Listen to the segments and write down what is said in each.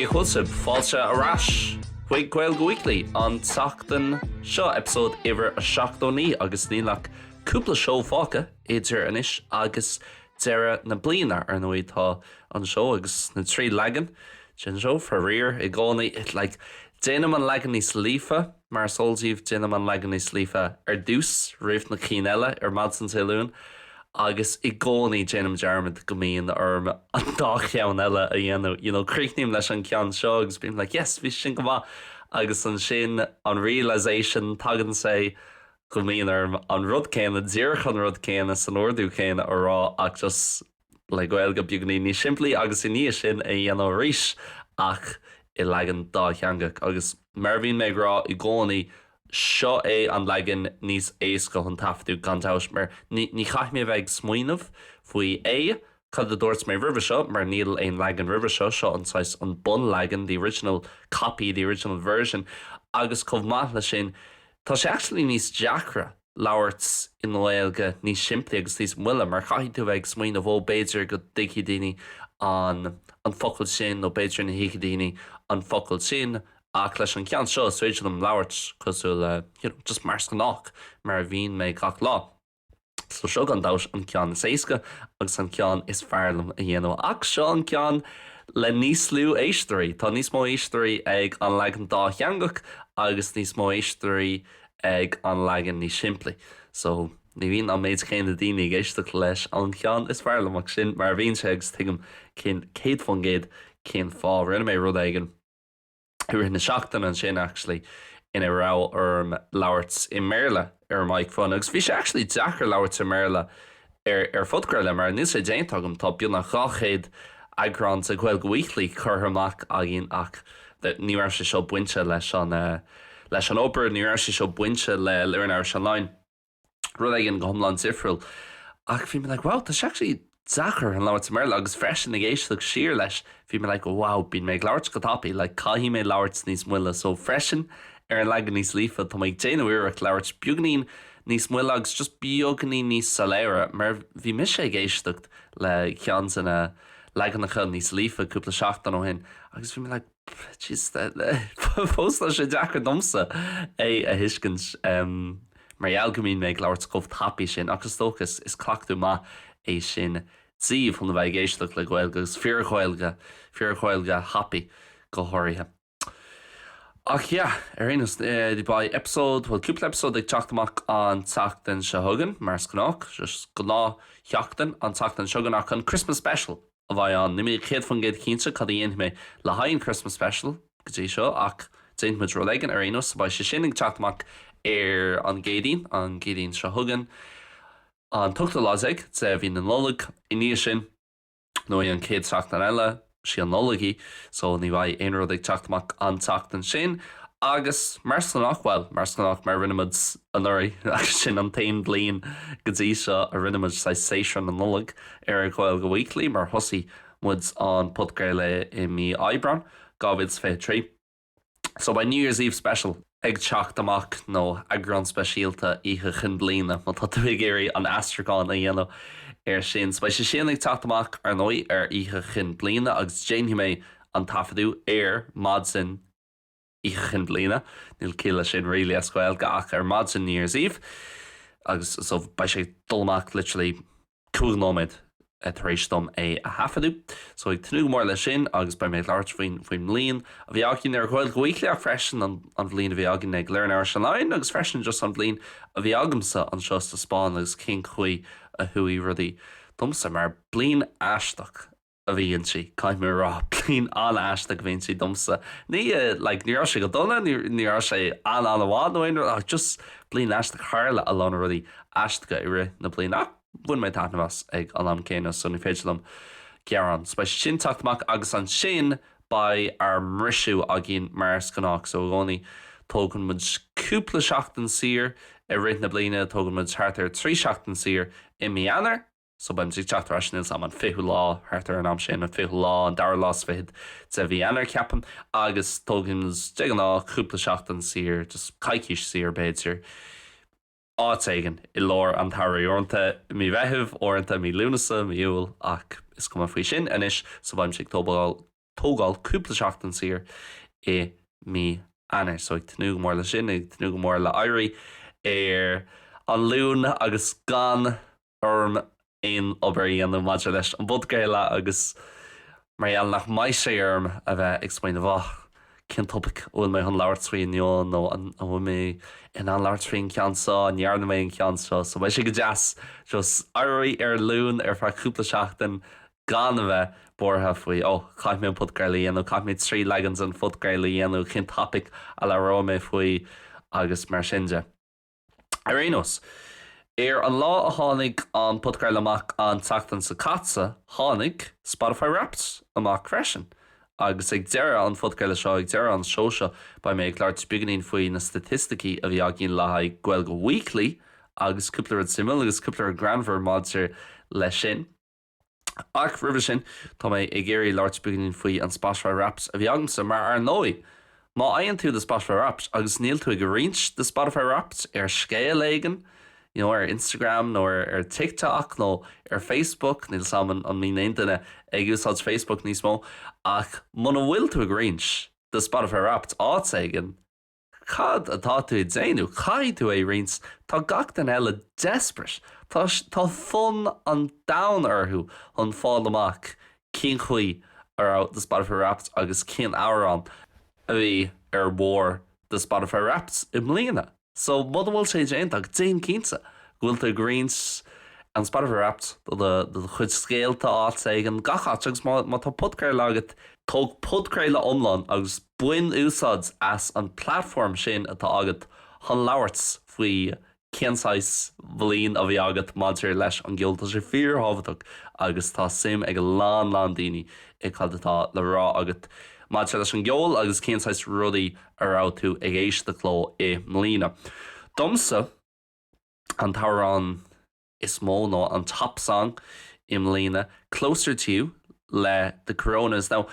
Cén chaoi a bhfuil sibh? Fáilte ar ais chuig Gaeilge Weekly an tseachtain seo, eipeasóid uimhir a 79 agus níl ach cúpla seó fágtha idir anois agus deireadh na bliana. Ar ndóigh tá an seó agus na trí leagan den seó faraor i gcónaí, like déanaim an leagan níos líofa, Mar is eol daoibh, déanaim an leagan níos líofa ar dtús, roimh na cinn eile, ar maidin Dé Luain, agus i gcónaí déanaim dearmad go mbíonn orm an dá cheann eile a dhéanamh, you know, críochnaím leis an gceann seo agus bím like yes, bhí sé sin go maith, agus ansin an realisation, tagann sé, go mbíonn orm an rud céanna, díreach an rud céanna, san ordú céanna a rá, ach just. le Gaeilge beagáinín níos simplí agus i ndiaidh sin é a dhéanamh arís ach i leagan dátheangach agus mar a bhíonn mé ag rá i gcónaí, seo é an leagan níos éasca chun taifeadadh gan dabht mar ní chaithfidh mé bheith ag smaoineamh faoi A, cad a dúirt mé roimhe seo mar níl aon leagan roimhe seo, seo an saghas, an bunleagan, the original copy, the original version agus chomh maith le sin, tá sé actually níos deacra. labhairt i nGaeilge níos simplí agus níos moille mar caithfidh tú a bheith ag smaoineamh oh b'fhéidir go dtuigfidh daoine an an focal sin nó b'fhéidir nach dtuigfidh daoine an focal sin ach leis an gceann seo is féidir liom labhairt cosúil le, you know just mar is gnách mar a bhíonn mé gach lá. So seo gan dabht an ceann is éasca agus an ceann is fearr liom a dhéanamh ach seo an ceann le níos lú éisteoirí. Tá níos mó éisteoirí ag an leagan dátheangach agus níos mó éisteoirí. ag an leagan níos simplí so ní bhíonn an méid céanna daoine ag éisteacht leis an cheann is fearr liom ach sin mar a bhíonn sé agus tuigim céad fán gcéad cén fáth. Rinne mé rud éigin i rith na seachtaine ansin actually ina raibh orm labhairt i mBéarla ar an microphone agus bhí sé actually deacair labhairt i mBéarla ar ar phodchraoladh, mar níl sé déanta agam, tá beagnach 200 eagrán de Gaeilge Weekly curtha amach againn ach ní raibh sé seo bainte leis an leis an obair, ní raibh sé seo bainte le Learn Irish Online, rud éigin go hiomlán difriúil. Ach bhí mé like, wow, tá sé actually deacair ag labhairt i mBéarla agus freisin ag éisteacht siar leis, bhí mé like, wow, bíonn mé ag labhairt go tapaidh, like caithfidh mé labhairt níos moille, so freisin ar an leagan níos líofa, tá mé ag déanamh iarracht labhairt beagáinín, Níos moille agus just beagáinín níos soiléire, mar bhí mise ag éisteacht le ceann de na leaganacha níos líofa cúpla seachtain ó shin agus bhí mé like jeez fós tá sé deacair domsa é a thuiscint mar gheall go mbíonn mé ag labhairt chomh tapaidh sin ach is dócha is cleachtadh maith é sin daoibh chun a bheith ag éisteacht le Gaeilge agus fíor-Ghaeilge, fíor-Ghaeilge thapaidh go háirithe. Ach yeah, ar aon nós, beidh eipeasóid, bhuel, cúpla eipeasóid ag teacht amach an tseachtain seo chugainn, mar is gnách, just gnáthsheachtain, an tseachtain seo chugainn, ach an Christmas Special a bheidh ann. Níl mé 100% cinnte cad a dhéanfaidh mé le haghaidh an Christmas Special go dtí seo, ach déanfaidh muid rud éigin, ar aon nós, beidh sé sin ag teacht amach ar an gCéadaoin, an Chéadaoin seo chugainn, an t-ochtú lá déag de mhí na Nollag. I ndiaidh sin. Nó an chéad tseachtain eile, sí an Nollaig í, so ní bheidh aon rud ag teacht amach an tseachtain sin. Agus mar is gnách, bhuel, mar is gnách, mar a rinne muid anuraidh, agus sin an t-aon bhliain go dtí seo a rinne muid saghas séasúr na Nollag ar Ghaeilge Weekly, mar thosaigh muid an podchraoladh i mí Aibreáin 2023. So beidh New Year's Eve Special ag teacht amach nó eagrán speisialta Oíche Chinn Bliana má tá tú ag iarraidh an aistriúchán a dhéanamh ar sin. So beidh sé sin ag teacht amach ar ndóigh ar Oíche Chinn Bliana agus déanfaidh mé an taifeadadh ar maidin Oíche Chinn Bliana, níl ciall leis sin really as Gaeilge ach ar maidin New Year's Eve agus so beidh sé ag dul amach literally cúig nóiméad tar éis dom é a thaifeadadh, so ag tnúth go mór leis sin agus beidh mé ag labhairt faoin mbliain a bhí againn ar Ghaeilge Weekly ach freisin an bhliain a bhí againn ag Learn Irish Online agus freisin just an bhliain a bhí agamsa anseo sa Spáinn agus cén chaoi a chuaigh rudaí domsa mar bliain aisteach. a bhí inti, caithfidh mé a rá. Bliain an-aisteach a bhí inti domsa. Ní, like, ní raibh sé go dona, ní, ní raibh sé an-an-mhaith nó aon rud ach just bliain aisteach. Tharla a lán rudaí aisteacha i rith na bliana ach bhain mé taitneamh as ag an am céanna so ní féidir liom gearán. So beidh sé sin ag teacht amach agus ansin beidh ár mbriseadh againn mar is gnách. So i gcónaí tógann muid cúpla seachtain saor i rith na bliana, tógann muid thart ar trí sheachtain saor i mí Eanáir, So beidh mise ag teacht ar ais, níl 's 'am an fichiú lá, thart ar an am sin, an fichiú lá, an dara lá 's fichead de mhí Eanáir, ceapaim, agus tógaimse, de ghnáth, cúpla seachtain saor, just coicís saor, b'fhéidir, áit éigin i lár an tsamhraidh, uaireanta i mí Mheithimh, uaireanta i mí Lúnasa, mí Iúil, ach is cuma faoi sin anois, so beidh mise ag tógáil tógáil cúpla seachtain saor i mí Eanáir. So ag tnúth go mór le sin, ag tnúth go mór le éirí ar an Luan agus gan orm aon obair a dhéanamh maidir leis an bpodcraoladh agus mar gheall nach mbeidh sé orm a bheith ag smaoineamh ah, cén topaic a bhfuil mé chun labhairt faoi inniu nó an bhfuil mé in ann labhairt faoin cheann seo, an ndearna mé an ceann seo? So beidh sé go deas just éirí ar an Luan ar feadh cúpla seachtain gan a bheith buartha faoi 'ó, caithfidh mé an podchraoladh a dhéanamh, caithfidh mé trí leagan den phodchraoladh a dhéanamh, cén topaic a labhróidh mé faoi? agus mar sin de. Ar aon nós, ar an lá a tháinig an podchraoladh amach an tseachtain seo caite, tháinig Spotify Wrapped amach freisin, agus ag deireadh an phodchraoladh seo, ag deireadh an seó seo, beidh mé ag labhairt beagainín faoi na staitisticí a bhí againn le haghaidh Gaeilge Weekly, agus cúpla rud suimiúil agus cúpla rud greannmhar maidir leis sin. Ach roimhe sin, tá mé ag iarraidh labhairt beagainín faoi an Spotify Wrapped a bhí agamsa, mar ar ndóigh, má fhaigheann tú do Spotify Wrapped agus níl tú ag roinnt do Spotify Wrapped ar scéal éigin, you know, ar Instagram nó ar TikTok nó ar Facebook, níl 's agam an mbíonn aon duine ag úsáid Facebook níos mó, ach muna bhfuil tú ag roinnt do Spotify Wrapped áit éigin, Cad atá tú ag déanamh? Caithfidh tú é roinnt. Tá gach duine eile desperate. Tá, tá fonn an domhain orthu chun fáil amach cén chaoi a raibh do Spotify Wrapped agus cén amhrán a bhí ar bharr do Spotify Wrapped i mbliana. So, muna bhfuil sé déanta agat, déan cinnte go bhfuil tú ag roinnt an Spotify Wrapped do do, do do chuid scéalta áit éigin, gach áit agus má, má tá podchraoladh agat, tóg podchraoladh iomlán agus Bain úsáid as an bplatform sin atá agat chun labhairt faoi cén saghas bliain a bhí agat maidir leis an gceol. Tá sé fíor-thábhachtach agus tá suim ag a lán lán daoine i cad atá le rá agat maidir leis an gceol agus cén saghas rudaí a raibh tú ag éisteacht leo i mbliana. Domsa, an t-amhrán. is mó nó an Top Song i mbliana, Closer To You le The Coronas. Now,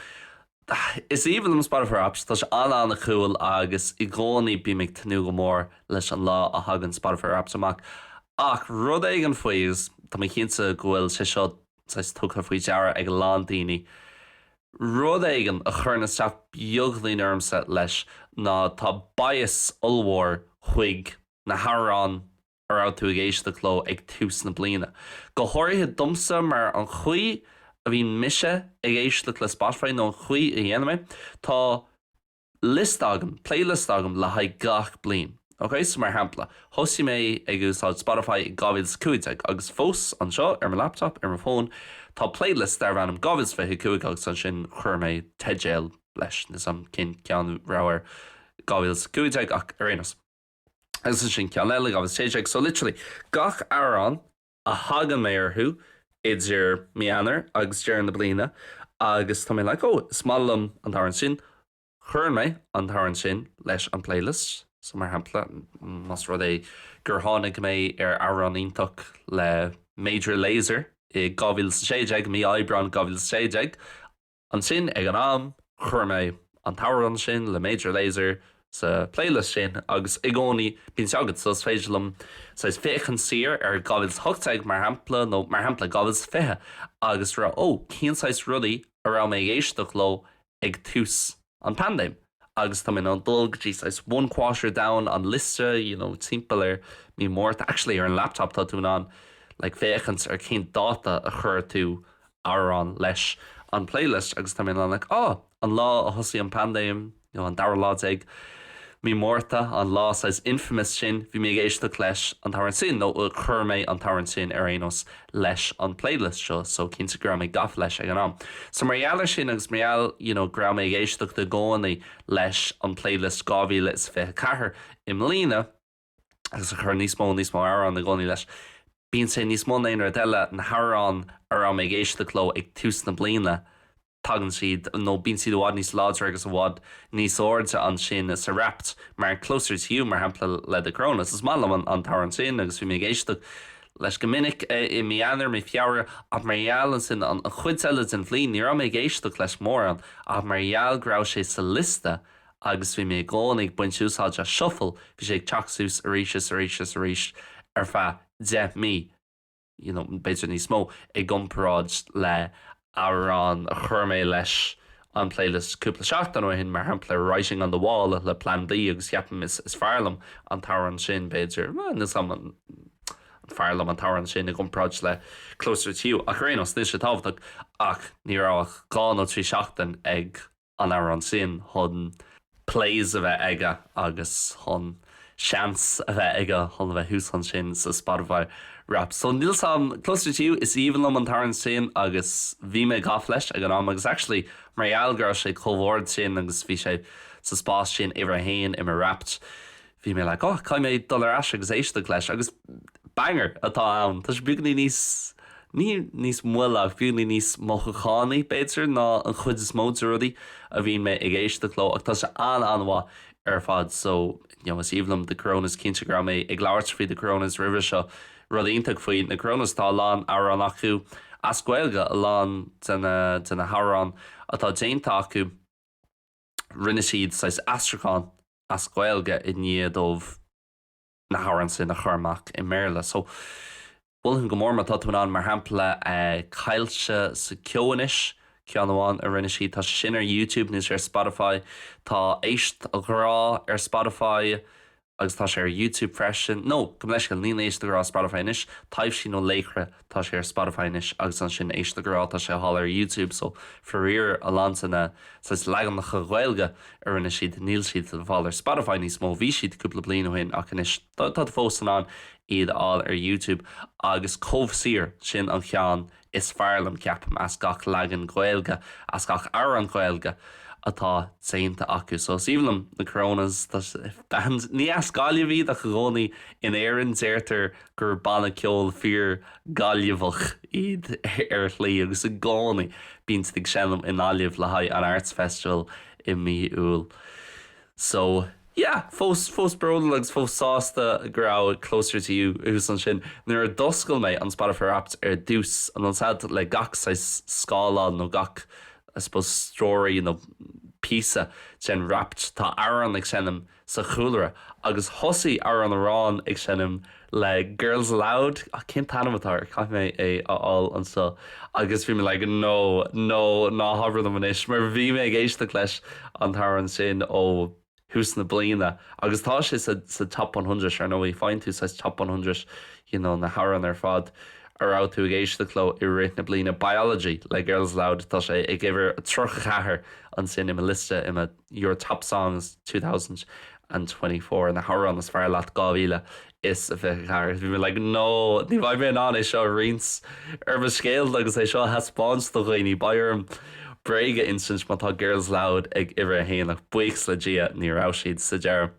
is aoibhinn liom Spotify Wrapped, tá sé an-an-cool agus i gcónaí bím ag tnúth go mór leis an lá a thagann Spotify Wrapped amach. Ach rud éigin faoi, agus tá mé cinnte go bhfuil sé seo saghas tugtha faoi deara ag a lán daoine, rud éigin a chuireann isteach beagainín ormsa leis ná tá bias ollmhór chuig na hamhráin a raibh tú ag éisteacht leo ag tús na bliana. Go háirithe domsa mar an chaoi a bhíonn mise ag éisteacht le Spotify nó an chaoi a dhéanaim é, tá liosta agam, playlist agam le haghaidh gach bliain. Ok, so mar shampla, thosaigh mé ag úsáid Spotify i 2015 agus fós anseo ar mo laptop, ar mo fón, tá playlist darb ainm 2025 agus ansin chuir mé teideal leis, níl 's agam cén ceann a raibh ar 2015 ach ar aon nós. agus ansin ceann eile agam, 2016. So literally gach amhrán a thagann mé orthu idir mí Eanáir agus deireadh na bliana agus tá mé like oh is maith liom an t-amhrán sin, cuireann mé an t-amhrán sin leis an playlist. So mar shampla, más rud é gur tháinig mé ar amhrán iontach le Major Lazer i 2016, mí Aibreáin 2016, Ansin, ag an am, chuir mé an t-amhrán sin le Major Lazer sa playlist sin agus i gcónaí bíonn sé agam, so is féidir liom saghas féachaint siar ar 2018, mar shampla, nó mar shampla 2020 agus rá, 'Ó, cén saghas rudaí a raibh mé ag éisteacht leo ag tús. an paindéim agus tá mé in ann dul go dtí saghas one quarter down an liosta, you know, timpeall ar mí Márta, actually ar an laptop tá tú in ann like féachaint ar cén dáta a chuir tú amhrán leis an playlist agus tá mé in ann like oh an lá a thosaigh an paindéim, you know, an dara lá déag mí Márta, an lá saghas infamous sin, bhí mé ag éisteacht leis an t-amhrán sin nó chuir mé an t-amhrán sin ar aon nós leis an playlist seo so cinnte go raibh mé gafa leis ag an am. So mar gheall ar sin agus mar gheall you know go raibh mé ag éisteacht i gcónaí leis an playlist 2024 i mbliana agus ag cur níos mó is níos mó amhrán i gcónaí leis, bíonn sé níos mó na aon rud eile, na hamhráin a raibh mé ag éisteacht leo ag tús na bliana, tagann siad, nó bíonn siad i bhfad níos láidre agus i bhfad níos airde ansin sa Wrapped, mar Closer To You, mar shampla, le The Coronas. Is maith liom an t-amhrán sin agus bhí mé ag éisteacht leis go minic i mí Eanáir, mí Feabhra, ach mar gheall ansin an chuid eile den bhliain, ní raibh mé ag éisteacht leis mórán, ach mar gheall go raibh sé sa liosta agus bhí mé i gcónaí ag baint úsáid as shuffle, bhí sé ag teacht suas arís is arís is arís ar feadh deich mí. you know, b'fhéidir níos mó i gcomparáid le amhrán a chuir mé leis an playlist cúpla seachtain ó shin, mar shampla Writing on the Wall le Plan B agus ceapaim is fearr liom an t-amhrán sin, b'fhéidir, níl 's agam an fearr liom an t-amhrán sin i gcomparáid le Closer to You ach ar aon nós, níl sé tábhachtach ach ní raibh ach dhá nó trí seachtain ag. an amhrán sin chun plays a bheith aige agus chun seans a bheith aige chun a bheith thuas ansin sa Spotify Wrapped. So níl 's agam, Closer to You, is aoibhinn liom an t-amhrán sin agus bhí mé gafa leis ag an am agus actually mar gheall go raibh sé chomh hard sin agus bhí sé sa spás sin uimhir a haon i mo Wrapped Bhí mé like oh, caithfidh mé dul ar ais agus éisteacht leis agus banger atá ann, tá sé beagainín níos, ní níos moille ach beagainín níos mothúchánaí b'fhéidir ná an chuid is mó de rudaí a bhíonn mé ag éisteacht leo ach tá sé an-an-mhaith ar fad. So, you know, is aoibhinn liom The Coronas, cinnte go raibh mé ag labhairt faoi The Coronas roimhe seo, rud iontach faoi na Coronas tá a lán amhrán acu as Gaeilge, a lán de na, de na hamhráin atá déanta acu rinne siad saghas aistriúchán, as Gaeilge i ndiaidh dóibh na hamhráin sin a chur amach i mBéarla. So, mholfainn go mór má tá tú in ann, mar shampla, Caillte sa Cheo anois, ceann amháin a rinne siad, tá sin ar YouTube nó is ar Spotify, tá Éist a Ghrá ar Spotify agus tá sé ar YouTube freisin, no, gabh mo leithscéal, níl Éist a Ghrá ar Spotify anois, Taibhsí nó Laochra. Tá sé ar Spotify anois agus ansin Éist a Ghrá, tá sé le fáil ar YouTube so faraor a lán de na saghas leaganacha Gaeilge a rinne siad níl siad le fáil ar Spotify níos mó, bhí siad cúpla bliain ó shin ach anois tá tú fós in ann iad a fháil ar YouTube agus Comh Saor, sin an cheann is fearr liom ceapaim as gach leagan Gaeilge, as gach amhrán Gaeilge atá déanta acu so is aoibhinn liom na Coronas tá sé, ní as Gaillimh iad ach i gcónaí in Éirinn deirtear gur banna ceoil fíor Gaillimheach iad ar shlí agus i gcónaí bíonn siad ag seinm i nGaillimh le haghaidh an Arts Festival i mí Iúil. So, yeah, fós, fós bródúil agus fós sásta go raibh Closer To You thuas ansin. Nuair a d'oscail mé an Spotify Wrapped ar dtús, an uair seo le gach saghas scáileán nó gach, I suppose, story nó píosa den Wrapped, tá amhrán ag seinm, sa chúlra agus thosaigh amhrán amhrán ag seinm le Girls Aloud, cén t-ainm atá air, caithfidh mé é a fháil anseo, agus bhí mé like no, no, ná habair liom anois mar bhí mé ag éisteacht leis an t-amhrán sin ó thús na bliana agus tá sé sa sa Top One Hundred ar ndóigh, faigheann tú saghas Top One Hundred you know na hamhráin ar fad a raibh tú ag éisteacht leo i rith na bliana, Biology le Girls Aloud, tá sé ag uimhir a tríocha ceathair ansin i mo liosta, i mo. Your Top Songs 2024, Na hAmhráin is Fearr Leat 2024, Bhí mé like no, ní bheidh mé in ann é seo a roinnt ar mo scéal agus é seo a thaispeáint do dhaoine, beidh orm bréag a insint má tá Girls Aloud ag uimhir a haon ach buíochas le Dia ní raibh siad sa deireadh.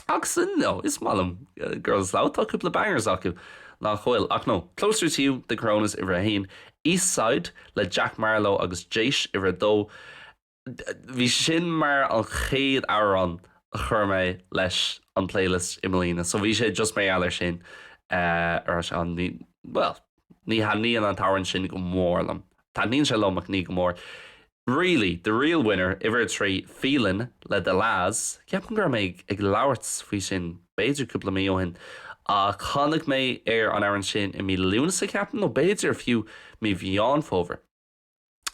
Ach you know, is maith liom Girls Aloud, tá cúpla bangers acu, nach bhfuil? Ach no, Closer To You, The Coronas uimhir a haon, Eastside le Jack Marlow agus Jaysh uimhir a dó, Bhí sin mar an chéad amhrán a chuir mé leis an playlist i mbliana so bhí sé just mar gheall ar sin a raibh sé ann. Ní, bhuel, ní thaitníonn an t-amhrán sin go mór liom. Taitníonn sé liom ach ní go mór. Really, the real winner, uimhir a trí, Feelin' le The La's. Ceapaim go raibh mé ag labhairt faoi sin b'fhéidir cúpla mí ó shin ach tháinig mé ar an amhrán sin i mí Lúnasa, ceapaim, nó b'fhéidir fiú mí Mheán Fómhair.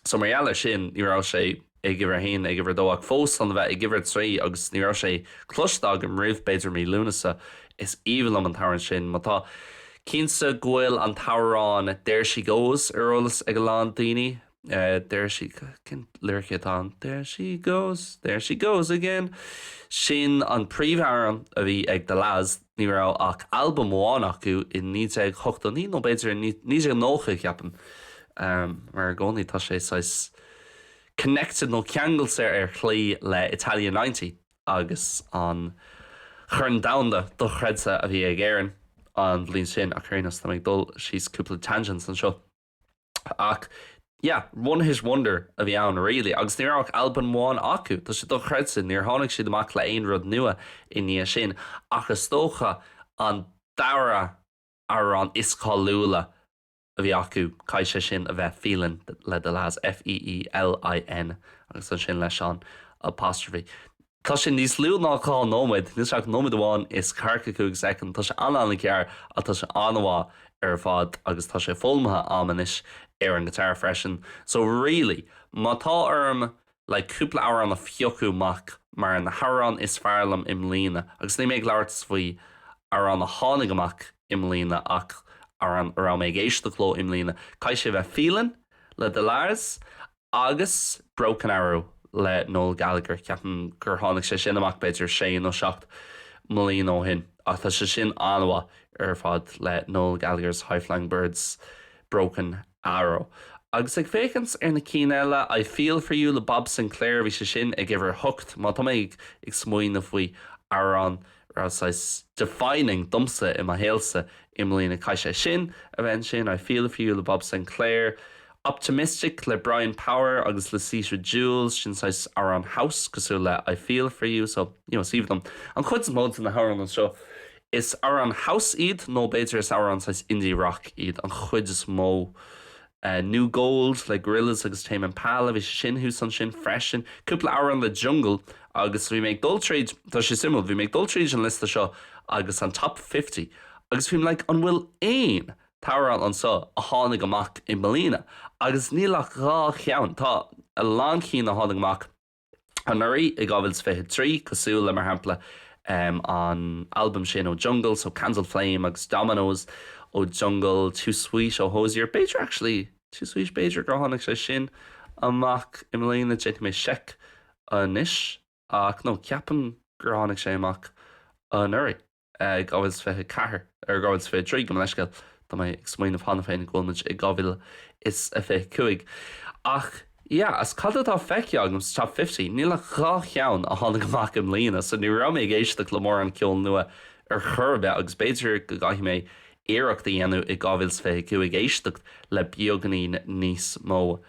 So mar gheall ar sin, ní raibh sé ag uimhir a haon, ag uimhir a dó, ach fós chun a bheith ag uimhir a trí agus ní raibh sé cloiste agam roimh, b'fhéidir, mí Lúnasa. Is aoibhinn liom an t-amhrán sin. Ó, tá mé cinnte go bhfuil an t-amhrán There She Goes ar eolas ag a lán daoine. There she, cén liricí atá ann? There she goes, there she goes again. Sin an príomhamhrán a bhí ag The La's. Ní raibh ach albam amháin acu i 1989 nó b'fhéidir i 1990, ceapaim, mar i gcónaí tá sé saghas connected nó ceangailte ar shlí le Italia Ninety agus an Chorn Domhanda dochreidte a bhí ag Éireann an bhliain sin, ach ar aon nós, táim ag dul síos cúpla tangents anseo. Ach, yeah, one hit wonder a bhí ann, really, agus ní raibh ach albam amháin acu, tá sé dochreidte, níor tháinig siad amach le haon rud nua i ndiaidh sin, ach is dócha an dara amhrán is cáiliúla a bhí acu, caithfidh sé sin a bheith, Feelin' le The La's, F-e-e-l-i-n, agus ansin leis an apostrophe. Tá sé níos lú ná dhá nóiméad, níl sé ach nóiméad amháin is ceathracha cúig soicind, tá sé an-an-ghearr ach tá sé an-mhaith ar fad agus tá sé foghlamtha a'm anois ar an ghiotár freisin so really má tá orm like cúpla amhrán a phiocadh amach mar na hamhráin is fearr liom i mbliana agus níl mé ag labhairt faoi amhrán a tháinig amach i mbliana ach amhrán a raibh mé ag éisteacht leo i mbliana caithfidh sé bheith Feelin' le The La's Agus Broken Arrow le Noel Gallagher, ceapaim gur tháinig sé sin amach b'fhéidir sé nó seacht mbliana ó shin, ach tá sé sin an-mhaith ar fad le Noel Gallagher's High Flying Birds, Broken Arrow. Agus ag féachaint ar na cinn eile, I Feel For You le Bob Sinclair, bhí sé sin ag uimhir a hocht, má tá mé ag smaoineamh faoi, amhrán raibh saghas defining domsa i mo shaolsa i mbliana. Caithfidh sé sin a bheith ansin, I Feel For You le Bob Sinclair, Optimistic le Brian Power agus Lucita Jules, sin saghas amhrán house cosúil le I Feel For You, so, you know, is aoibhinn liom an chuid is mó de na hamhráin anseo. Is amhráin house iad nó b'fhéidir is amhráin saghas indie rock iad an chuid is mó. New Gold le Gorillaz agus Tame Impala, bhí sé sin thuas ansin freisin. Cúpla amhrán le Jungle agus bhí mé ag dul tríd, tá sé suimiúil, bhí mé ag dul tríd an liosta seo agus an Top Fifty agus bhí mé like an bhfuil aon t-amhrán anseo a tháinig amach i mbliana agus níl ach dhá cheann, tá a lán cinn a tháinig amach anuraidh i 2023, cosúil le, mar shampla, an t-albam sin ó Jungle, so, Candle Flame, agus Dominoes ó Jungle, Too Sweet ó Hozier, b'fhéidir, actually, Too Sweet, b'fhéidir gur tháinig sé sin amach i mbliana, déanfaidh mé seic anois, ach no, ceapaim gur tháinig sé amach anuraidh. 2024. ar 2023, gabh mo leithscéal, tá mé ag smaoineamh cheana féin go bhfuil muid i 2025. Ach yeah, as cad atá feicthe agam sa Top Fifty, níl ach dhá cheann a tháinig amach i mbliana, so ní raibh mé ag éisteacht le mórán ceol nua ar chor ar bith agus b'fhéidir go gcaithfidh mé iarracht a dhéanamh i 2025 éisteacht le beagainín níos mó.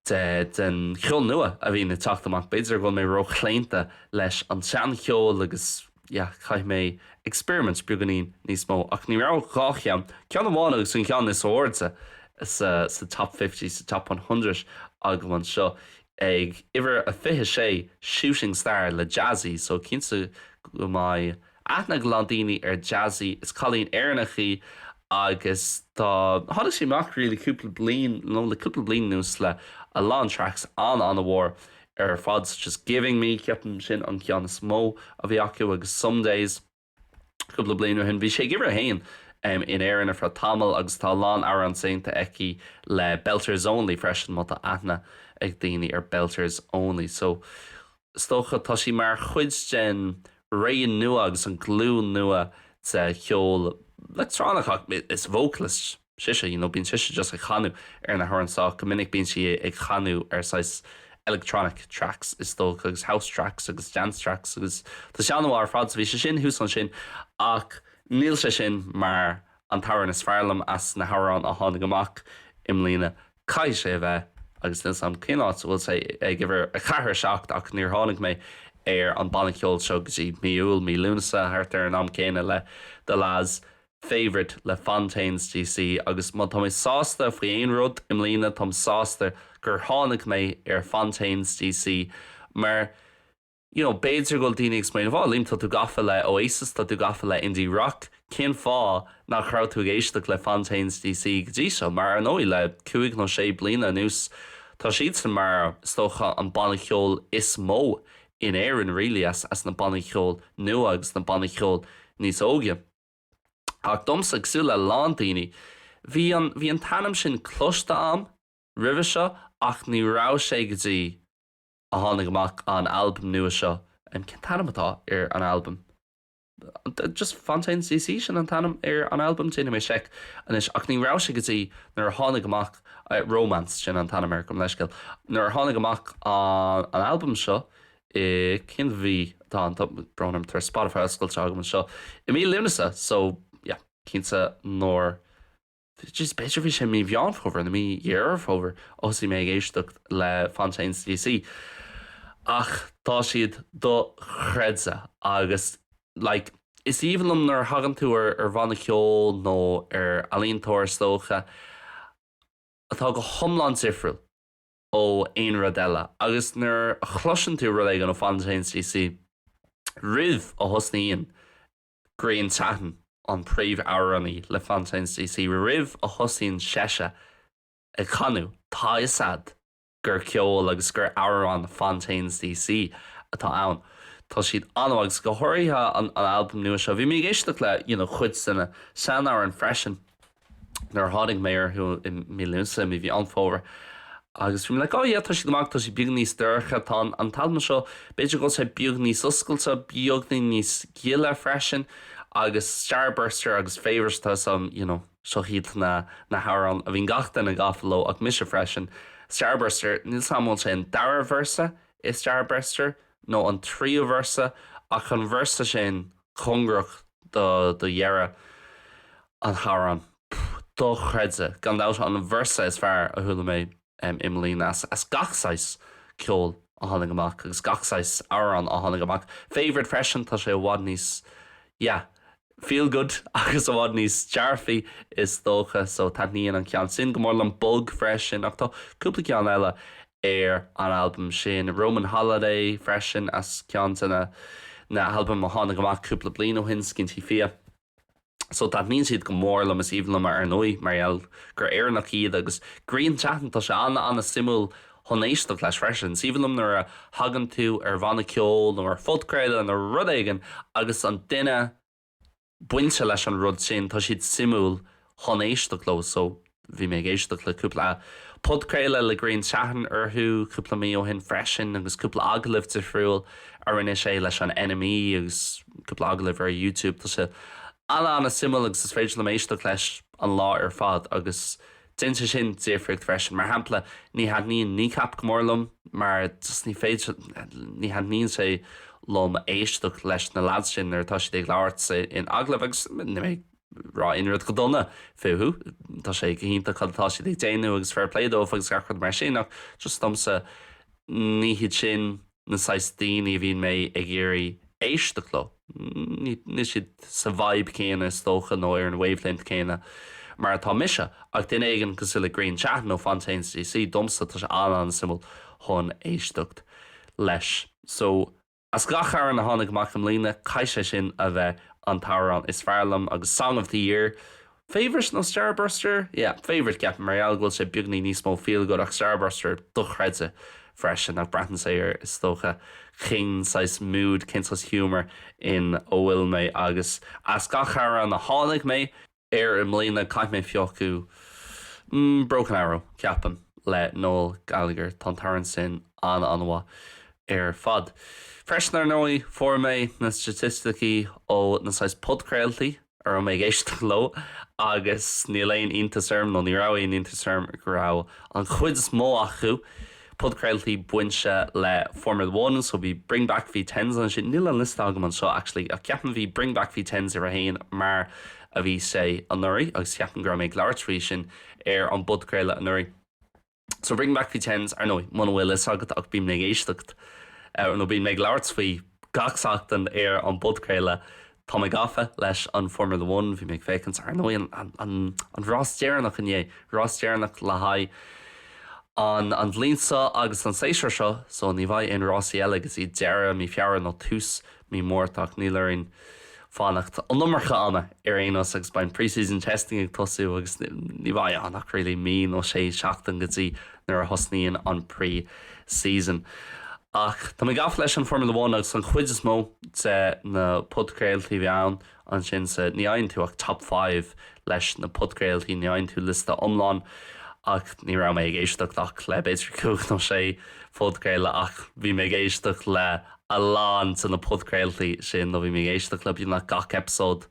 den cheol nua a bhíonn ag teacht amach. B'fhéidir go bhfuil mé róchlaonta leis an tseancheol agus, yeah, caithfidh mé experiment beagáinín níos mó. Ach ní raibh ach dhá cheann, ceann amháin agus an ceann is airde sa Top Fifty, sa Top One Hundred agam anseo. Ag uimhir a 26, Shooting Star le Jazzy, so cinnte go mbeidh aithne ag a lán daoine ar Jazzy, is cailín Éireannach í agus tá, tháinig sí amach really cúpla bliain, nó like cúpla bliain anuas le a lán tracks an-an-mhór ar fad such as Giving Me, ceapaim sin an ceann is mó a bhí acu agus Some Days cúpla bliain ó shin. Bhí sí ag uimhir a haon em in Éirinn ar feadh tamaill agus tá a lán amhrán déanta aici le Belters Only freisin, má tá aithne ag daoine ar Belters Only so. is dócha. Tá sí mar chuid den ré nua agus an glúin nua de cheol leictreonach ach is vocalist sise, you know, bíonn sise just ag canadh ar na hamhráin sách go minic, bíonn sí ag canadh ar saghas electronic tracks is dócha agus house tracks agus dance tracks agus tá sé an-mhaith ar fad so bhí sé sin thuas ansin ach níl sé sin mar an t-amhrán is fearr liom as na hamhráin a tháinig amach i mbliana. Caithfidh sé a bheith, agus níl a fhios agam cén áit a bhfuil sé ag uimhir a ceathair seacht ach níor tháinig mé ar an banna ceoil seo go dtí mí Iúil, mí Lúnasa, thart ar an am céanna le The Lads, Favourite le Fontaines DC agus má tá mé sásta faoi aon rud i mbliana táim sásta gur tháinig mé ar Fontaines DC mar you know b'fhéidir go bhfuil daoine ag smaoineamh oh Liam tá tú gafa le Oasis tá tú gafa le indie rock cén fáth nach raibh tú ag éisteacht le Fontaines DC go dtí seo mar ar ndóigh le cúig nó sé bliana anuas tá siadsan mar is dócha an banna cheoil is mó in Éirinn really as as na bannaí ceoil nua agus na bannaí ceoil níos óige ach domsa cosúil le a lán daoine bhí an bhí an t-ainm sin cloiste am roimhe seo ach ní raibh sé go dtí a tháinig amach an albam nua seo. Cén t-ainm atá ar an albam? Just Fontaines D.C. sin an t-ainm ar an albam, déanfaidh mé seic anois, ach ní raibh sé go dtí nuair a tháinig amach Romance, sin an t-ainm air, gabhaim leithscéal, nuair a tháinig amach an albam seo i, cén mhí atá ann, tá brón orm, tá Spotify oscailte agam anseo, i mí Lúnasa, so yeah, cinnte nuair. Just b'fhéidir bhí sé mí Mheán Fómhair nó mí Dheireadh Fómhair a thosaigh mé ag éisteacht le Fontaines DC ach tá siad dochreidte agus like is aoibhinn liom nuair a thagann tú ar ar bhanna ceoil nó ar ealaíontóir is dócha atá go hiomlán difriúil ó aon rud eile agus nuair a chloiseann tú rud éigin ó Fontaines DC roimh a thosaíonn Grian Chatten, an príomhamhránaí le Fontaines D.C. roimh a thosaíonn seise ag canadh, tá 'fhios a'd gur ceol agus gur amhrán Fontaines D.C. atá ann. Tá siad an-mhaith agus go háirithe an albam nua seo. Bhí mé ag éisteacht le, you know, cuid de na sean-amhráin freisin. nuair a tháinig mé orthu i mí Lúnasa, i mí Mheán Fómhair agus bhí mé like oh yeah tá siad go maith, tá siad beag níos dorcha, tá an t-albam seo, b'fhéidir go bhfuil sé beag níos oscailte, beagní níos gile freisin agus Starburster agus Favourite is Sam you know, seo hiad na na hamhráin a bhíonn gach duine gafa leo ach mise freisin, Starburster, níl 's 'am an bhfuil sé an dara véarsa i Starburster nó an tríú véarsa ach an véarsa sin, cóngarach do dheireadh an hamhráin. Dochreidte, gan dabht an véarsa is fearr a chuala mé i mbliana as gach saghas ceoil a tháinig amach agus gach saghas amhrán a tháinig amach. Favourite freisin, tá sé i bhfad níos, yeah, feel good agus i bhfad níos dearfaí is dócha, so taitníonn an ceann sin go mór liom. Bug freisin, ach tá cúpla ceann eile ar an albam sin. Roman Holiday freisin as ceann de na na halbaim a tháinig amach cúpla bliain ó shin, Skinty Fia. So taitníonn siad go mór liom, is aoibhinn liom ar ndóigh mar gheall gur Éireannach iad agus Grian Chatten, tá sé ana ana suimiúil chun éisteacht leis freisin. Is aoibhinn liom nuair a thagann tú ar bhanna ceoil nó ar phodchraoladh nó rud éigin agus an duine, bainte leis an rud sin, tá siad suimiúil chun éisteacht leo, so bhí mé ag éisteacht le cúpla podchraoladh le Grian Chatten orthu cúpla mí ó shin freisin agus cúpla agallamh difriúil a rinne sé leis an NME agus cúpla agallamh ar YouTube, tá sé an-an-suimiúil agus is féidir liom éisteacht leis an lá ar fad agus Déanann sé sin difríocht freisin. Mar shampla, ní thaitníonn Kneecap go mór liom, mar just ní féidir, ní thaitníonn sé liom éisteacht leis na lads sin nuair atá siad ag labhairt in agallamh agus níl mé ag rá aon rud go dona fúthu, tá sé go hiontach cad atá siad ag déanamh agus fair play dóibh agus gach rud mar sin ach just domsa, ní hiad sin. na saghas daoine a bhíonn mé ag iarraidh éisteacht leo. Níl siad sa vibe céanna, is dócha, nó ar an wavelength céanna mar atá mise, ach duine éigin cosúil le Grian Chatten nó Fontaines DC, domsa tá sé an-an-suimiúil chun éisteacht leis. So, as gach amhrán a tháinig amach i mbliana, caithfidh sé sin a bheith an t-amhrán is fearr liom, agus Song of the Year, Favourite nó Starburster? Yeah, favourite, ceapaim, mar gheall go bhfuil sé beagnach níos mó feel good, ach Starburster, dochreidte freisin, ach braitheann sé ar, is dócha, cén saghas mood, cén saghas humour ina bhfuil mé, agus as gach amhrán a tháinig mé air i mbliana, caithfidh mé piocadh, mm, Broken Arrow, ceapaim, le Noel Gallagher, tá an t-amhrán sin an-an-mhaith ar fad. Freisin, ar ndóigh, fuair mé na staitisticí ó na saghas podchraoltaí a raibh mé ag éisteacht leo agus níl aon iontas orm, nó ní raibh aon iontas orm, go raibh an chuid is mó acu, podchraoltaí bainte le Formula One, so bhí Bring Back V10s ansin, níl an liosta agam anseo actually, ach ceapaim bhí Bring Back V10s uimhir a haon mar a bhí sé anuraidh agus ceapaim go raibh mé ag labhairt faoi sin ar an bpodchraoladh anuraidh. So Bring Back V10s, ar ndóigh, muna bhfuil a fhios agat ach bím ag éisteacht, nó bím ag labhairt faoi gach seachtain ar an bpodchraoladh. Tá mé gafa leis an Formula One, bhí mé ag féachaint, ar ndóigh, ar an rás deireanach inné, rás deireanach le haghaidh an an bhliain seo agus an séasúr seo, so ní bheidh aon rásaí eile go dtí deireadh mí Feabhra nó tús Mí Márta, ach níl orainn fanacht an iomarca ama ar aon nós agus beidh pre-season testing ag tosú agus ní bheidh ann ach really mí nó sé seachtain go dtí nuair a thosnaíonn an pre-season. Ach tá mé gafa leis an Formula One agus an chuid is mó de na podchraoltaí a bhí ann Ansin sa, ní fhaigheann tú ach Top Five leis na podchraoltaí, ní fhaigheann tú liosta iomlán. Ach ní raibh mé ag éisteacht ach le b'fhéidir cúig nó sé phodchraoladh, ach bhí mé ag éisteacht le a lán de na podchraoltaí sin, nó bhí mé ag éisteacht le beagnach gach eipeasóid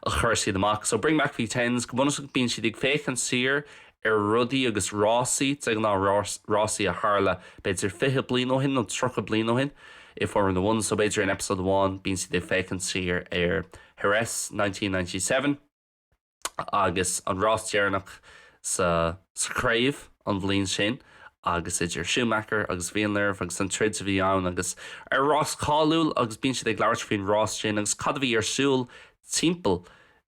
a chuir siad amach. So Bring Back V10s, go bunúsach bíonn siad ag féachaint siar ar rudaí agus rásaí, de ghnáth rásaí a tharla b'fhéidir fiche bliain ó shin nó tríocha bliain ó shin i Formula One, so b'fhéidir in eipeasóid amháin bíonn siad ag féachaint siar ar Jerez 1997 agus an rás deireanach sa chraobh an bhliain sin agus idir Schumacher agus Villeneuve agus an troid a bhí ann agus an rás cáiliúil agus bíonn siad ag labhairt faoin rás sin agus cad a bhí ar siúl timpeall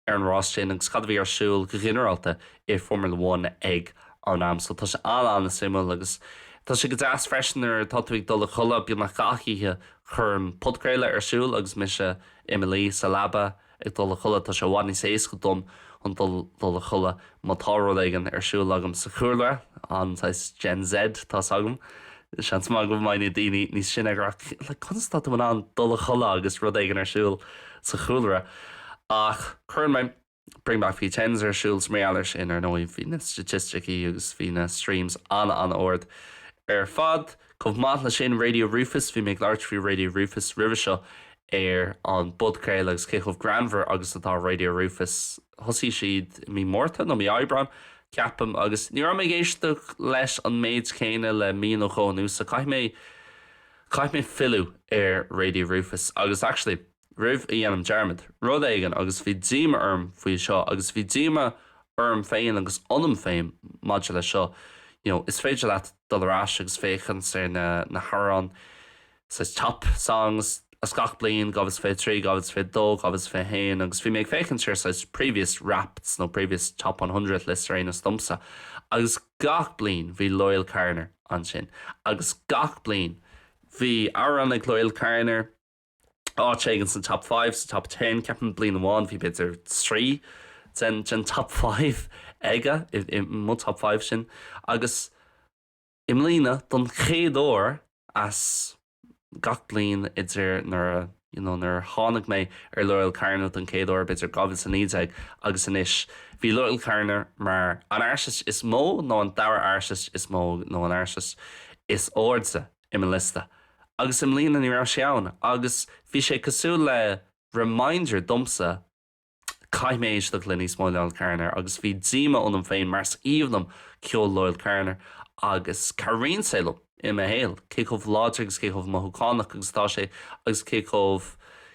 ar an rás sin agus cad a bhí ar siúl go ginearálta i Formula One ag an am. So tá sé an-an-suimiúil agus tá sé go deas freisin nuair atá tú ag dul a chodladh, beagnach gach oíche, cuirim podchraoladh ar siúl agus mise i mo luí sa leaba ag dul a chodladh. Tá sé i bhfad níos éasca dom chun dul a chodladh. Má tá rud éigin ar siúl agam sa chúlra, an-saghas Gen Z tá a fhios agam, seans maith go mbeidh na daoine níos sine ag rá, like, conas atá tú in ann dul a chodladh agus rud éigin ar siúl sa chúlra? Ach cuireann mé Bring Back V10s ar siúl is mar gheall air sin, ar ndóigh. Bhí na staitisticí agus bhí na streams an-an-ard ar fad. Chomh maith le sin, Radio Rufus, bhí mé ag labhairt faoi Radio Rufus roimhe seo ar an bpodchraoladh agus cé chomh greannmhar agus atá Radio Rufus. Thosaigh siad i mí Márta nó mí Aibreáin, ceapaim, agus ní raibh mé ag éisteacht leis an méid céanna le mí nó dhó anuas, so caithfidh mé, caithfidh mé filleadh ar Radio Rufus. Agus, actually. roimh a dhéanaim dearmad, rud éigin agus bhí díoma orm faoi seo agus bhí díoma orm féin agus ionam féin maidir leis seo you know is féidir leat dul ar ais agus féachaint ar na na hamhráin saghas top songs as gach bliain 2023, 2022, 2021 agus bhí mé ag féachaint ar saghas previous wrappeds nó previous top one hundred lists anyways domsa agus gach bliain bhí Loyle Carner ansin agus gach bliain bhí amhrán ag Loyle Carner áit éigin sna Top Five, sa Top Ten, ceapaim. Bliain amháin bhí b'fhéidir trí den den Top Five aige, i i mo Top Five sin agus i mbliana don chéad uair as gach bliain idir nuair a you know nuair a tháinig mé ar Loyle Carner don chéad uair b'fhéidir 2019 agus anois, bhí Loyle Carner mar an artist is mó nó an dara artist is mó nó an artist is airde. i mo liosta agus i mbliana ní raibh sé ann agus bhí sé cosúil le reminder domsa, caithfidh mé éisteacht le níos mó Loyle Carner agus bhí díoma ionam féin mar is aoibhinn liom ceol Loyle Carner agus cabhraíonn sé liom i mo shaol, cé chomh láidir agus cé chomh mothúchánach agus atá sé agus cé chomh,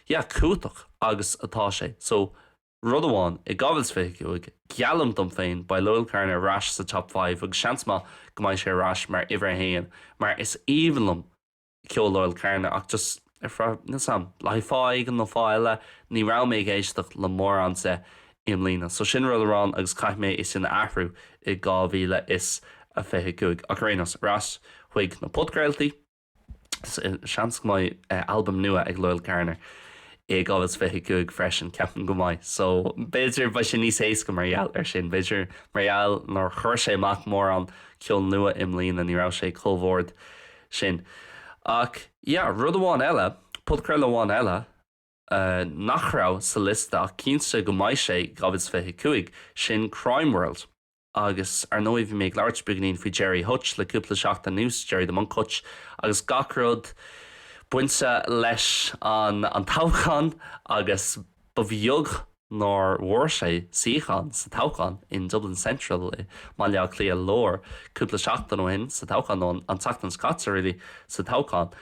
yeah, cumhachtach agus atá sé. So. Rud amháin, in 2025, geallaim dom féin, beidh Loyle Carner ar ais sa Top Five agus seans maith go mbeidh sé ar ais mar uimhir a haon mar is aoibhinn liom ceol Loyle Carner ach just le fáth éigin nó fáth eile, ní raibh mé ag éisteacht le mórán de i mbliana. So sin rud amháin agus caithfidh mé é sin a athrú i 2025. Ach ar aon nós, ar ais chuig na podchraoltaí. Seans go mbeidh albam nua ag Loyle Carner i 2025 freisin, ceapaim go mbeidh, so b'fhéidir beidh sé níos éasca mar gheall ar sin. B'fhéidir mar gheall nár chuir sé amach mórán ceol nua i mbliana, ní raibh sé chomh ard sin. Ach yeah, rud amháin eile, podchraoladh amháin eile nach raibh sa liosta ach cinnte go mbeidh sé i 2025, sin Crime World. Agus, ar ndóigh, bhí mé ag labhairt beagainín faoi Gerry Hutch le cúpla seachtain anuas, Gerry 'The Monk' Hutch, agus gach rud bainte leis an toghchán agus ba bheag nár bhuaigh sé suíochán sa toghchán in Dublin Central i mBaile Átha Cliath Lár cúpla seachtain ó shin, sa toghchán, nó an tseachtain seo caite really, sa toghchán.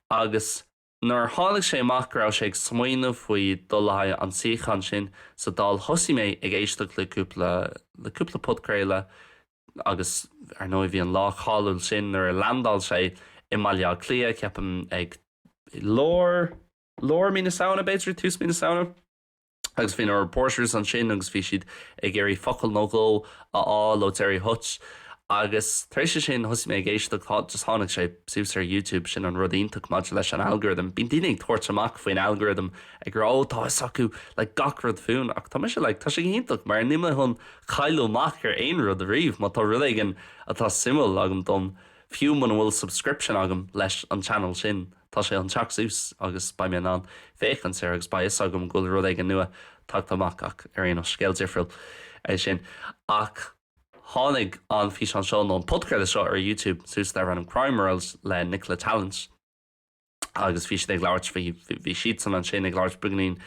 Agus. Nuair a tháinig sé amach go raibh sé ag smaoineamh faoi dul le haghaidh an tsuíocháin sin sa Dáil thosaigh mé ag éisteacht le cúpla, le cúpla podchraoladh agus ar ndóigh bhí an lá cáiliúil sin nuair a leandáil sé i mBaile Átha Cliath, ceapaim ag lár, lár mí na Samhna b'fhéidir, tús mí na Samhna? agus bhí na reporters ansin agus bhí siad ag iarraidh focal nó dhó a fháil ó Gerry Hutch agus tar éis é sin thosaigh mé ag éisteacht, just tháinig sé suas ar YouTube, sin an rud iontach maidir leis an algorithm, bíonn daoine ag tabhairt amach faoin algorithm ag rá oh tá 'fhios acu like gach rud fúinn ach tá mise like tá sé go hiontach mar níl mé chun cailleadh amach ar aon rud ariamh má tá rud éigin atá suimiúil agam dom fiú muna bhfuil subscription agam leis an channel sin. Tá sé chun teacht suas agus beidh mé in ann féachaint air agus beidh 'fhios agam go bhfuil rud éigin nua tagtha amach ach ar aon nós, scéal difriúil é sin. Ach tháinig an físeán seo, nó an podchraoladh seo ar YouTube suas darb ainm Crime World le Nicola Tallant agus bhí siad ag labhairt faoi, bhí siadsan ansin ag labhairt beagainín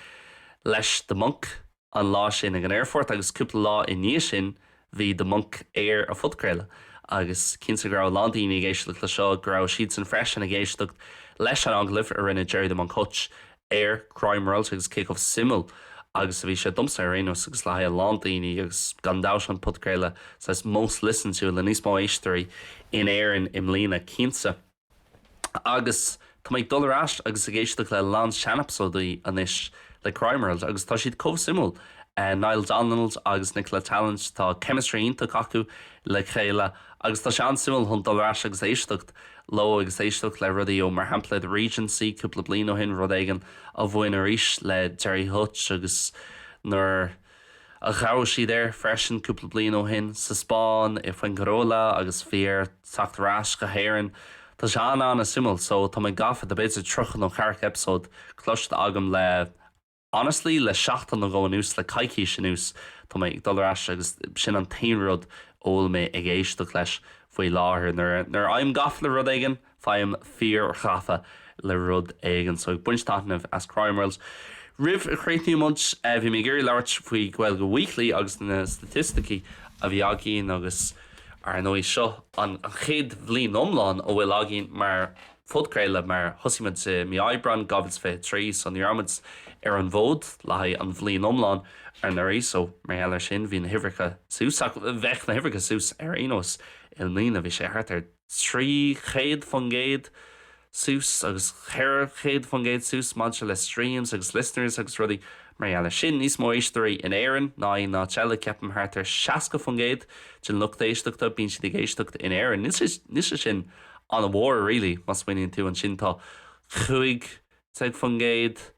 leis The Monk, an lá sin ag an aerfort agus cúpla lá i ndiaidh sin bhí The Monk ar an bpodchraoladh agus cinnte go raibh a lán daoine ag éisteacht le seo, go raibh siadsan freisin ag éisteacht leis an agallamh a rinne Gerry The Monk Hutch ar Crime World agus cé chomh suimiúil agus a bhí sé, domsa ar aon nós agus le haghaidh a lán daoine agus gan dabht an podchraoladh saghas most listened to le níos mó éisteoirí in Éirinn i mbliana, cinnte. agus tá mé ag dul ar ais agus ag éisteacht le a lán seaneipeasóidí anois le Crime World agus tá siad chomh suimiúil, Niall Donald agus Nicola Tallant, tá chemistry iontach acu le chéile agus tá sé an-suimiúil chun dul ar ais agus éisteacht leo agus éisteacht le rudaí ó mar shampla The Regency cúpla bliain ó shin, rud éigin a bhain arís le Gerry Hutch agus nuair. A ghabháil siad air freisin cúpla bliain ó shin sa Spáinn, i Fuengirola agus bhí air teacht ar ais go hÉirinn. Tá sé an-an-suimiúil so tá mé gafa, tá b'fhéidir tríocha nó ceathracha eipeasóid cloiste agam le honestly le seachtain nó dhó anuas, le coicís anuas tá mé ag dul ar ais agus sin an t-aon rud a bhfuil mé ag éisteacht leis faoi láthair. Nuair a, nuair a fhaighim gafa le rud éigin, Faighim fíorghafa le rud éigin, so ag baint taitnimh as Crime World. Roimh a chríochnaíonn muid, bhí mé ag iarraidh labhairt faoi Gaeilge Weekly agus na staitisticí a bhí againn agus ar ndóigh seo an chéad bhliain iomlán a bhfuil againn mar phodchraoladh mar thosaigh muid i mí Aibreáin 2023 so ní raibh muid ar an bhfód le haghaidh an bhliain iomlán anuraidh so mar gheall ar sin bhí na huimhreacha suas ach bheadh na huimhreacha suas ar aon nós i mbliana bhí sé thart ar 300% suas agus 400% suas maidir le streams agus listeners agus rudaí mar gheall air sin, níos mó éisteoirí in Éirinn ná aon áit eile, ceapaim thart ar 60% den lucht éisteachta, bíonn siad ag éisteacht in Éirinn, níl sé sin an-mhór really, má smaoiníonn tú, ansin tá 15%.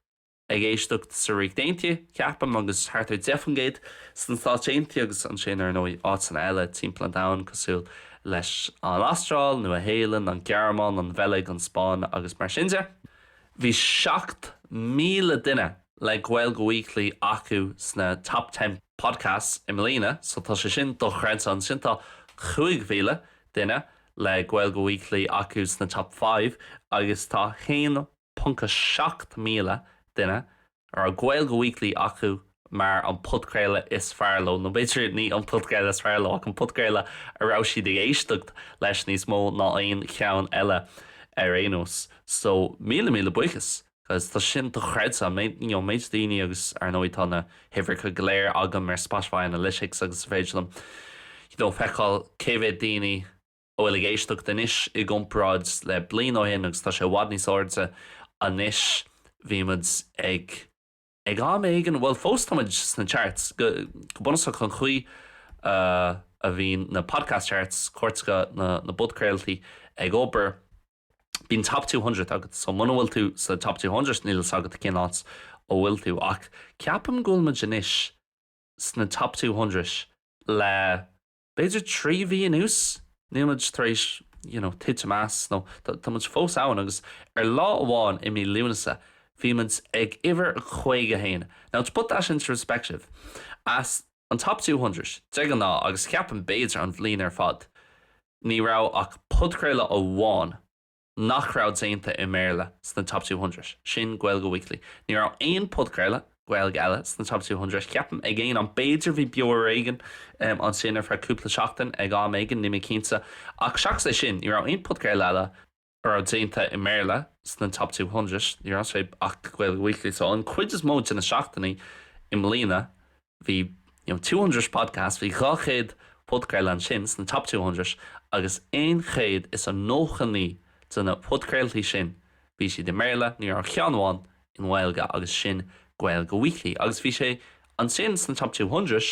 ag éisteacht sa Ríocht Aontaithe, ceapaim, agus thart ar 10 faoin gcéad sna Stáit Aontaithe agus ansin, ar ndóigh, áiteanna eile timpeall an domhain cosúil leis an Astráil, Nua-Shéalainn, an Ghearmáin, an Bheilg, an Spáinn agus mar sin de. Bhí 7,000 duine le Gaeilge Weekly acu sna Top Ten Podcasts i mbliana so tá sé sin dochreidte. Ansin tá 5,000 duine le Gaeilge Weekly acu sna Top Five agus tá 1 1.7 míle duine a raibh Gaeilge Weekly acu mar an podchraoladh is fearr leo, nó b'fhéidir ní an podchraoladh is fearr leo ach an podchraoladh a raibh siad ag éisteacht leis níos mó ná aon cheann eile ar aon nós. So míle míle buíochas because tá sin dochreidte an méid, you know, méid daoine agus ar ndóigh tá na huimhreacha go léir agam ar Spotify Analytics agus is féidir liom, you know, feiceáil cé mhéad daoine, a bhfuil ag éisteacht anois i gcomparáid le bliain ó shin agus tá sé i bhfad níos airde anois. Bhí muid ag, ag am éigin, bhuel fós tá muid sna charts, go bunúsach an chaoi a bhíonn na podcast charts, cairteacha na na bpodchraoltaí, ag obair, bíonn Top Two Hundred agat so muna bhfuil tú sna Top Two Hundred níl fhios agat cén áit a bhfuil tú ach ceapaim go bhfuil muid anois sna Top Two Hundred le b'fhéidir trí mhí anuas, níl muid tar éis you know titim amach as nó tá muid fós ann agus ar lá amháin i mí Lúnasa bhí muid ag uimhir a caoga a haon. Now to put that into respective, as an top two hundred de ghnáth agus cheapfainn b'fhéidir an bhliain ar fad ní raibh ach podchraoladh amháin, nach raibh déanta i mBéarla sna Top Two Hundred, sin Gaeilge Weekly. Ní raibh aon podchraoladh Gaeilge eile sna Top Two Hundred, ceapaim, ag aon am. B'fhéidir bhí Beo Ar Éigean ansin ar feadh cúpla seachtain ag am éigin, nílim cinnte. Ach seachas é sin, ní raibh aon podchraoladh eile a raibh déanta i mBéarla sna Top Two Hundred, ní raibh sé ach Gaeilge Weekly. So an cuid is mó de na seachtainí i mbliana, Bhí, you know, two hundred podcasts, bhí dhá chéad podchraoladh ansin, sna top two hundred, agus aon chéad is a nócha naoi de na podchraoltaí sin, bhí siad i mBéarla, ní raibh ceann amháin i nGaeilge agus sin Gaeilge Weekly agus bhí sé ansin sna top two hundred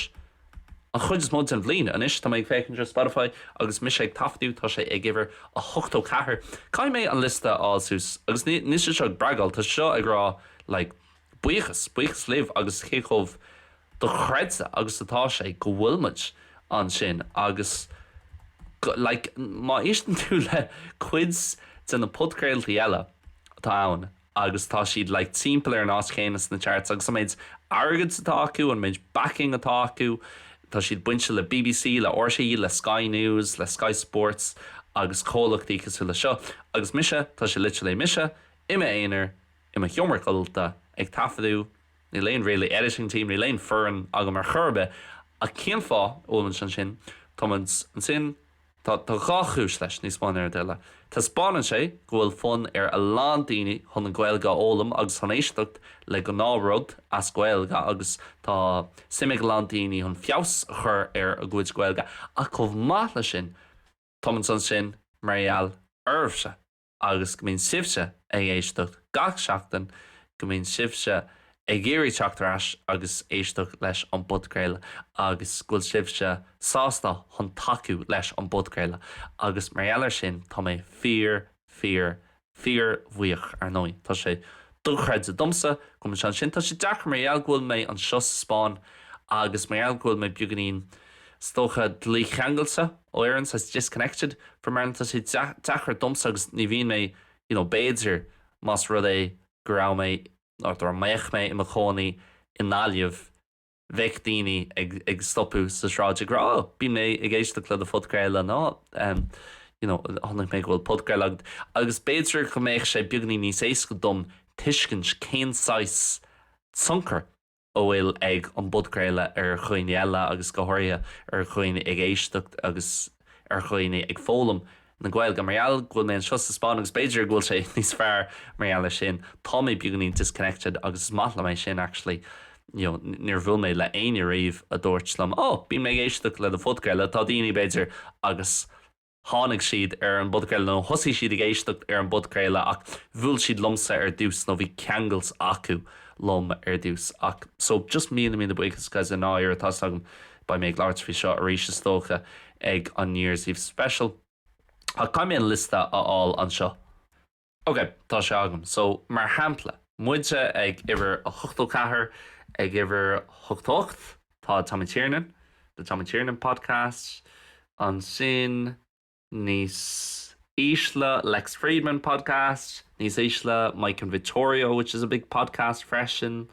an chuid is mó den bhliain. Anois tá mé ag féachaint ar Spotify agus mise ag taifeadadh, tá sé ag uimhir a hochtó ceathair. Caithfidh mé an liosta a fháil suas agus níl sé seo ag bragáil, tá seo ag rá like, Buíochas, buíochas libh agus cé chomh dochreidte agus atá sé go bhfuil muid ansin agus go, like, má éisteann tú le cuid de na podchraoltaí eile atá ann agus tá siad, like, timpeall ar an áit chéanna sna charts agus an méid airgid atá acu, an méid backing atá acu, tá siad bainte le bbc, le rte, le Sky News, le Sky Sports agus comhlachtaí cosúil le seo agus mise, tá sé literally mise, i m'aonar, i mo sheomra codlata, ag taifeadadh, níl aon really editing team, níl aon foireann agam ar chor ar bith, ach cén fáth a bhfuilimid ansin? Táimid ansin, tá, tá dhá chúis leis, níos mó ná aon rud eile. Taispeánann sé go bhfuil fonn ar a lán daoine chun an Ghaeilge a fhoghlaim agus chun éisteacht le gnáth rud as Gaeilge agus tá suim ag a lán daoine chun feabhas a chur ar a gcuid Gaeilge ach chomh maith le sin, táimid ansin mar gheall oraibhse. Agus go mbíonn sibhse ag éisteacht gach seachtain, go mbíonn sibhse ag iarraidh teacht ar ais agus éisteacht leis an bpodchraoladh agus go bhfuil sibhse sásta chun tacú leis an bpodchraoladh agus mar gheall air sin tá mé fíor, fíor, fíorbhuíoch. Ar ndóigh, tá sé dochreidte domsa go bhfuil mise ansin. Tá sé deacair mar gheall go bhfuil mé anseo sa Spáinn agus mar gheall go bhfuil mé beagainín. is dócha, dícheangailte ó Éirinn, saghas disconnected from Ireland. Tá sé deacair domsa agus ní bhíonn mé, you know, b'fhéidir más rud é go raibh mé, nó dá mbeadh mé i mo chónaí i nGaillimh, bheadh daoine ag, ag stopadh sa tsráid ag rá, oh, bíonn mé ag éisteacht le do phodchraoladh, nó ehm, you know, chonaic mé go bhfuil podchraoladh agat, agus b'fhéidir go mbeadh sé beagainín níos éasca dom tuiscint cén saghas tionchar, a bhfuil ag an bpodchraoladh ar dhaoine eile agus go háirithe ar dhaoine ag éisteacht agus ar dhaoine ag foghlaim na Gaeilge. Mar gheall go bhfuil mé anseo sa Spáinn agus b'fhéidir go bhfuil sé níos fearr mar gheall air sin, tá mé beagainín disconnected agus is maith liom é sin actually, you know, níor bhuail mé le éinne riamh a dúirt liom, 'Ó, bíonn mé ag éisteacht le do phodchraoladh, tá daoine, b'fhéidir, agus tháinig siad ar an bpodchraoladh, nó thosaigh siad ag éisteacht ar an bpodchraoladh, ach bhuail siad liomsa ar dtús, nó bhí ceangailt acu liom ar dtús, ach, so, just míle, míle buíochas, guys, an-áthas orm, beidh mé ag labhairt faoi seo arís, is dócha, ag an New Year's Eve Special, ach caithfidh mé an liosta a fháil anseo. Ok, tá sé agam. So, mar shampla, muidne ag uimhir a hochtó ceathair, ag uimhir hochtó ocht, tá Tommy Tiernan, The Tommy Tiernan Podcast, ansin níos ísle, Lex Fridman Podcast, níos ísle, Mike and Vittorio, which is a big podcast freisin.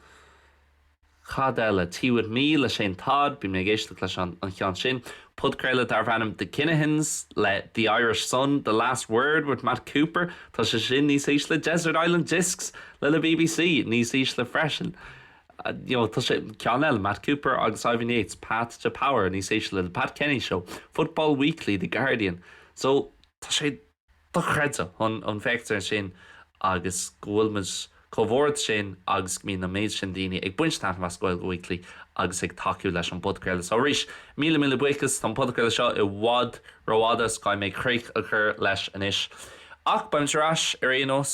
Cad eile? Tea with Me le Shane Todd, bhí mé ag éisteacht leis an an cheann sin. Podchraoladh darb ainm The Kinahans le The Irish Sun, The Last Word with Matt Cooper, tá sé sin níos ísle. Desert Island Discs le le BBC, níos ísle freisin. You know, tá sé, ceann eile, Matt Cooper agus Ivan Yates, Path to Power, níos ísle. The Pat Kenny Show, Football Weekly, The Guardian. So, tá sé. Dochreidte chun féachaint air sin agus go bhfuil muid chomh hard sin agus go mbíonn an méid sin daoine ag baint taitnimh as Gaeilge Weekly agus ag tacú leis an bpodchraoladh seo arís. Míle míle buíochas, tá an podchraoladh seo i bhfad rófhada, so caithfidh mé críoch a chur leis anois. Ach beimid ar ais ar aon nós